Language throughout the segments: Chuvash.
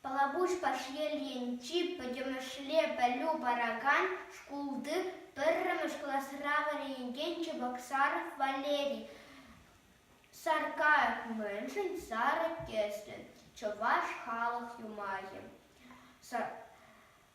Пӑлапуҫ Пашьел енчи пӗтӗмӗшле пӗлӳ паракан шкулти пӗрремӗш класра вӗренекен Чебоксаров Валерий Саркаев мӗншӗн сарӑ тӗслӗ чӑваш халӑх юмахӗ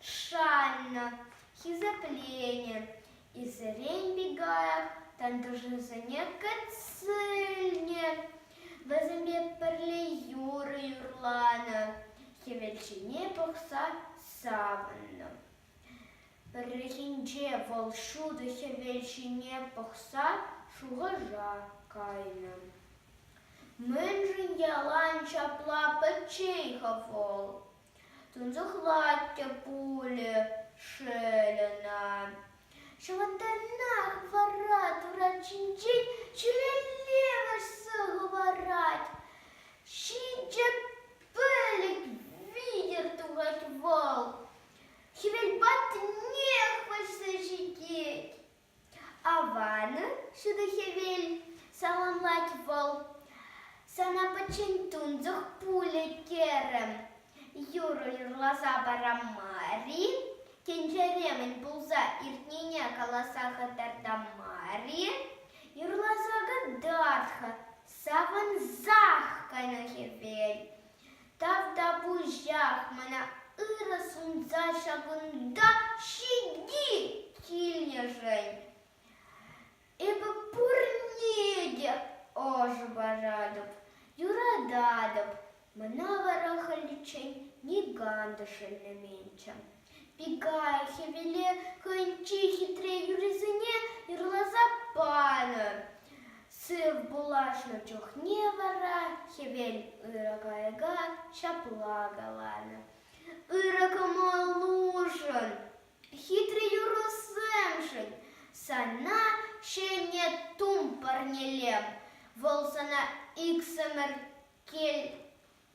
шаннӑ хисеплени Исерен Бигаев тантӑшӗсене кӗтсене вӗсемпе пӗрле юрӑ юрланӑ, хӗвел ҫине пӑхса савӑннӑ. Пӗррехинче вӑл ҫутӑ хӗвел ҫине пӑхса шухӑша кайнӑ. Мӗншӗн ялан ҫапла пӗччен-ха вӑл? Тунсӑх хӑватӗ пулӗ шел ӑна. Ҫӑвӑттанах вара турат ҫинчен ҫӳлелле хӑварать. Ҫинҫе пӗлӗт витӗр тухать вӑл. Хӗвел патнех вӑйсӑр ҫитет. Аван, ҫутӑ хӗвел, саламлать вӑл. Сана пӗччен тунсӑх пулӗ терӗм. Юрӑ юрласа пара мар-и? Тӗнчере мӗн пулса иртнине каласа хӑтарта мар-и? Юрласа кӑтарт-ха, савӑнсах кайнӑ хӗвел. Тавтапуҫах мана ырӑ сунса ҫакӑнта ҫити килнӗшӗн. Эпӗ пурне те ӑшӑ паратӑп, юрататӑп. Мана вара халиччен никам та шеллеменччӗ. Пикай хӗвеле хӑйӗнчи хитре юррисене юрласа панӑ. Сыв пулашнӑ чухне вара хӗвел ырӑ кайӑка ҫапла каланӑ. Ырӑ кӑмӑлушӑн, хитре юрӑсемшӗн сана ҫӗнӗ тум парнелем. Вӑл сана иксӗмӗр кил